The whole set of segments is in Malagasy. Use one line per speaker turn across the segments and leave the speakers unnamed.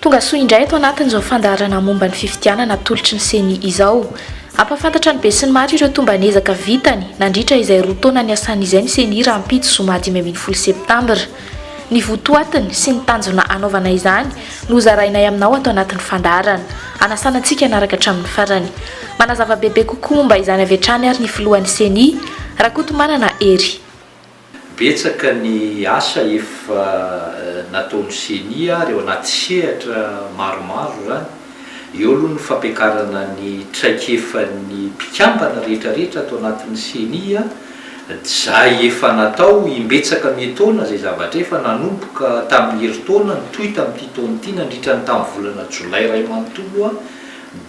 Tonga soa indray ato anatin'izao fandaharana momba ny fifidianana atolotry ny Ceni izao. Hampahafantatra ny besinimaro ireo tomban'ezaka vitany nandritra izay roa taona niasany izay ny Ceni rahampitso zoma dimy ambin'ny folo septambra. Ny votoatiny sy ny tanjona hanaovana izany no hozarainay aminao ato anatin'ny fandaharana. Hanasana antsika hanaraka hatramin'ny farany. Manazava bebe kokoa momba izany avy hatrany ary ny filohan'ny Ceni, Rakotomanana Hery. Betsaka
ny asa efa nataon'ny ceni ary ao anaty sehatra maromaro izany. Eo aloha ny fampiakarana ny traikefan'ny mpikambana rehetra rehetra ato anatin'ny ceni, izay efa natao imbetsaka mietaona izay zavatra efa nanomboka tamin'ny herintaona nitohy tamin'ity taona ity nandritra ny tamin'ny volana jolay iray manontolo.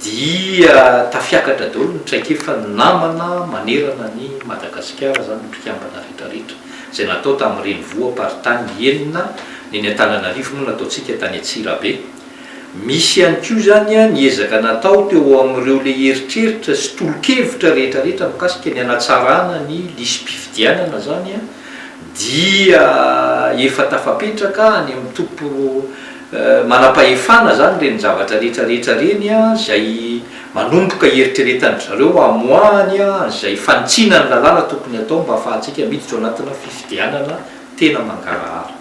Dia tafiakatra daholo ny traikefa ny namana manerana an'i Madagasikara, izany ny mpikambana rehetrarehetra, izay natao tamin'ny renivoam-paritany enina, ny eny Antananarivo moa nataontsika tany Antsirabe. Misy ihany koa izany ny ezaka natao teo amin'ireo le eritreritra sy tolo-kevitra rehetrarehetra mikasika ny hanatsarana ny lisi-pifidianana izany dia efa tafapetraka any amin'ny topo. Manam-pahefana izany ireny zavatra rehetra rehetra ireny izay manomboka hieritreretan-dry zareo hamoahany an'izay fanitsiana ny lalàna tokony hatao mba hahafahantsika miditra ao anatina fifidianana tena mangarahara.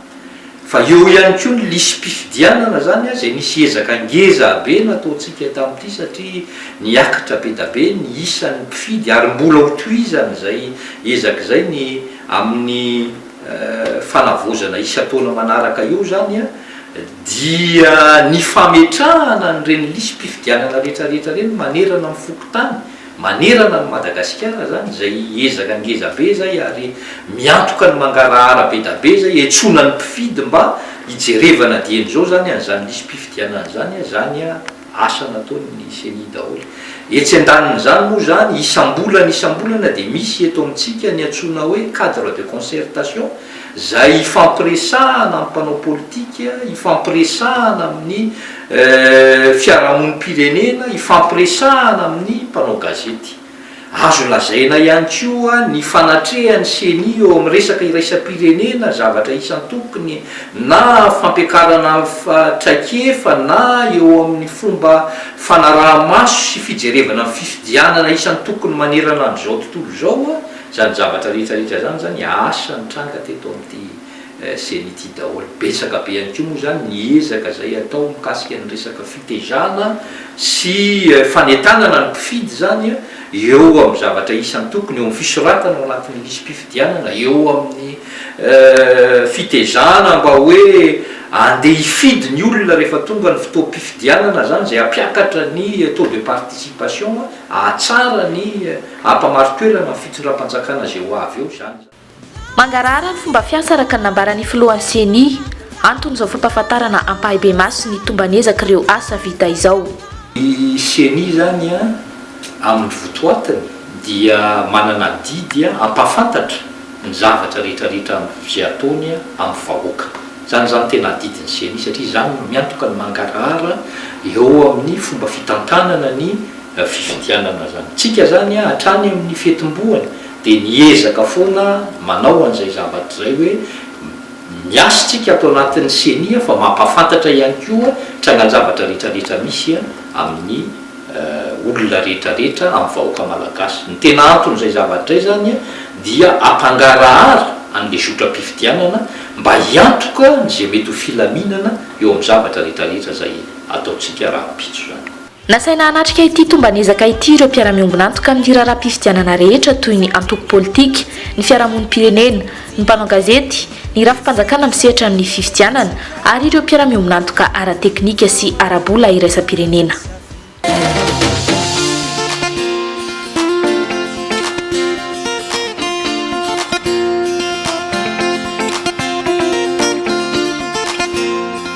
Fa eo ihany koa ny lisi-pifidianana izany izay nisy ezaka ngeza be nataontsika tamin'ity satria niakatra be da be ny isan'ny mpifidy ary mbola ho tohizan'izay ezaka izay ny amin'ny fanavaozana isan-taona manaraka eo izany dia ny fametrahana an'ireny lisi-pifidianana rehetrarehetra ireny manerana ny fokontany, manerana an'i Madagasikara izany, izay ezaka ngeza be izay ary miantoka ny mangarahara be da be izay, iantsoana ny mpifidy mba hijerevana dieny izao izany an'izany lisi-pifidianana izany izany. asa nataon'ny ceni daholo. Etsy andanin'izany moa izany, isam-bolana isam-bolana dia misy eto amintsika ny antsoina hoe cadre de concertation, izay ifampiresahana amin'ny mpanao politika, ifampiresahana amin'ny fiarahamonim-pirenena, ifampiresahana amin'ny mpanao gazety. Azo lazaina ihany koa ny fanatrehan'ny Ceni eo amin'ny resaka iraisam-pirenena, zavatra isan-tokony, na fampiakarana traikefa na eo amin'ny fomba fanaraha-maso sy fijerevana ny fifidianana isan-tokony manerana an'izao tontolo izao, izany zavatra rehetra rehetra izany izany asa nitranga teto amin'ity Zenith daholo. Betsaka be ihany koa moa izany ny ezaka izay atao mikasika ny resaka fitezana sy fanentanana ny mpifidy izany eo amin'ny zavatra isan-tokony, eo amin'ny fisoratana ao anatin'ny lisi-pifidianana, eo amin'ny fitezana mba hoe andeha hifidy ny olona rehefa tonga ny fotoam-pifidianana izany, izay hampiakatra ny taux de participation, hahatsara ny, hampamarin-toerana ny fitondram-panjakana izay ho avy eo izany. Mangarahara
ny fomba fiasa araka ny nambaran'ny filohan'ny Ceni. Anton'izao fampahafantarana ampahibemaso ny tomban'ezak'ireo asa vita izao. Ny
Ceni izany amin'ny votoatiny dia manana adidy hampahafantatra ny zavatra rehetrarehetra amin'ny vy ataony amin'ny vahoaka. Izany izany tena adidin'ny Ceni satria izany no miantoka ny mangarahara eo amin'ny fomba fitantanana ny fifidianana izany. Tsika izany hatrany amin'ny fetim-boany dia niezaka foana manao an'izay zavatra izay hoe miasa isika ato anatin'ny ceni fa mampahafantatra ihany koa trangan-javatra rehetrarehetra misy amin'ny olona rehetrarehetra amin'ny vahoaka malagasy. Ny tena anton'izay zavatra izay izany dia ampangarahara an'ilay zotram-pifidianana mba hiantoka izay mety ho filaminana eo amin'ny zavatra rehetrarehetra izay ataontsika rahampitso izany. Nasaina hanatrika
ity tomban'ezaka ity ireo mpiara-miombon'antoka amin'ny raharaham-pifidianana rehetra toy ny antoko politika, ny fiarahamonim-pirenena, ny mpanao gazety, ny rafi-panjakana misehatra amin'ny fifidianana ary ireo mpiara-miombon'antoka ara-teknika sy ara-bola iraisam-pirenena.